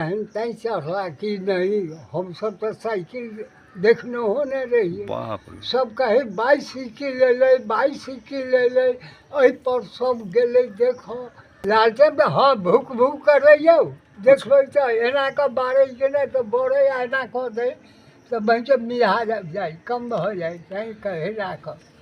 एहन तैं चढ़ला कि नहि हमसभ तऽ साइकिल देखनहो नहि रहियै बाप रे सभ कहै बाइसिकिल अयलै बाइसिकिल अयलै एहिपर सभ गेलै देखऽ लालटेन तऽ हँ भुक भुक करैयौ देखबै तऽ एना कऽ बारै कि नहि तऽ बड़ै आ एना कऽ दै तऽ बनि कऽ मियाज आबि जाइ कम भऽ जाइ तैँ कहै राखह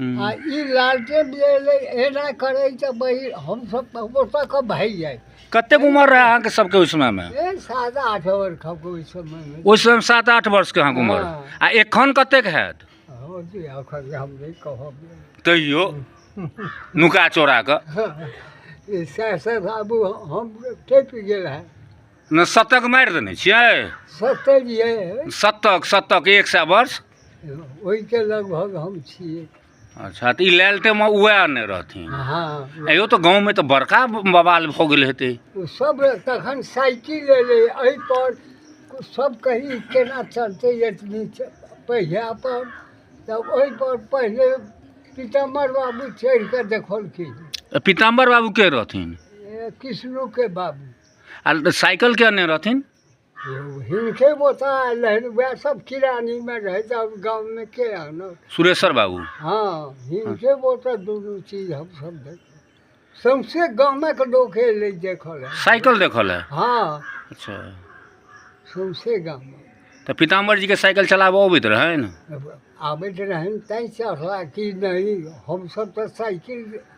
आ ई लालटेन जे एलै एना करै तऽ बहिन हमसभ तऽ ओतऽ कऽ भागि जाइ कतेक उम्र रहै अहाँके सबके ओहि समयमे ए सात आठ ओवर खप ओहि समयमे ओहि समयमे सात आठ वर्षके अहाँके उम्र हँ। आ एखन कतेक हैत हो जी एखन जे हम नहि कहब तैयो नुका चोरा कऽ ई सएह सभ आबू हम टपि गेल है ने शतक मारि देने छियै सत्तर ये शतक शतक एक सए वर्ष ओहिके लगभग हम छियै अच्छा तऽ ई लालटेमे उएह ने रहथिन हँ अयो तऽ गाँवमे तऽ बड़का बवाल भऽ गेल हेतै ओ सब तखन साइकिल एलै एहिपर सब कही केना चलतै एतनी च- पहिया पर तब ओहिपर पहिले पीताम्बर बाबू चढ़ि कऽ देखलखिन पीताम्बर बाबू के रहथिन ए, कृष्णोके बाबू आ साइकिल के अनने रहथिन हिनके बोता आयल रहनि उएह सब किरानीमे रहै तऽ आब गाममे के आनत सुरेश्वर बाबू हँ हिनके बोता दुनू चीज हमसभ देखलहुँ सौंसे गामक लोक एलै देखऽ लए साइकिल देखल है हँ अच्छा सौंसे गाममे तऽ पीताम्बर जी के साइकिल चलाबऽ अबैत रहनि आबैत रहनि तैँ चढ़ला कि नहि हमसभ तऽ साइकिल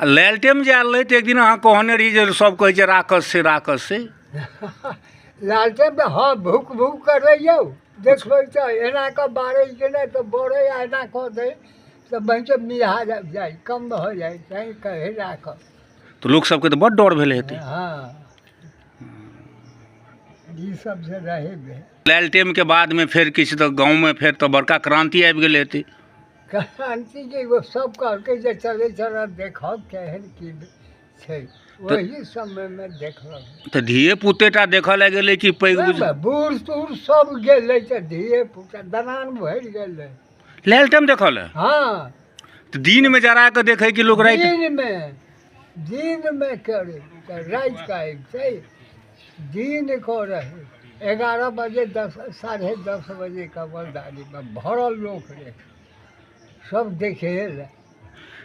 आ लालटेम जे आयल रहै तऽ एक दिन अहाँ कहने रही जे सब कहै छै राखस से राखस से लालटेन तऽ हँ भूक भूक करै यौ देखबै तऽ एना कऽ बारै कि नहि तऽ बड़ै आ एना कऽ दै तऽ बहिके मिहा जा- जाइ कम भऽ जाइ तैँ कहै राखब तऽ लोक सबके तऽ बड़ डर भेल हेतै हँ ई सब जे रहै भेल लालटेम के बाद मे फेर किछु तऽ गाँव मे फेर तऽ बड़का क्रांति आबि गेल हेतै क्रान्ति जे एगो सब कहलकै जे चलै चलऽ देखब केहन की छै ओही समयमे देखलक तऽ धिये पुते टा देखऽ लए गेलै कि पैघ बुझ ओहिमे बूढ़ तूढ़ सब गेलै तऽ धिये पुता दलान भरि गेलै लालटेम देखऽ लए हँ तऽ दिनमे जरा कऽ देखै कि लोक राति दिनमे दिनमे करै तऽ राति कऽ अबितै दिन कऽ रहै एगारह बजे दस साढ़े दस बजे कऽ बलदारीमे भरल लोक रहै सब देखे लए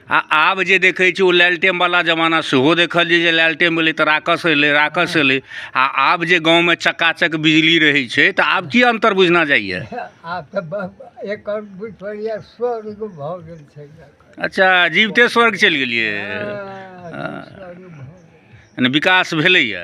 आ आब जे देखै छी ओ लालटेम वाला जमाना सेहो देखलियै जे लालटेम एलै तऽ राकस एलै राकस एलै आ आब जे गाँवमे चकाचक बिजली रहै छै तऽ आब की अन्तर बुझना जाइए आब तऽ ब- एकर बुझि पड़ैए स्वर्ग भऽ गेल छै अच्छा जीविते स्वर्ग चलि गेलियै हँ विकास भेलैए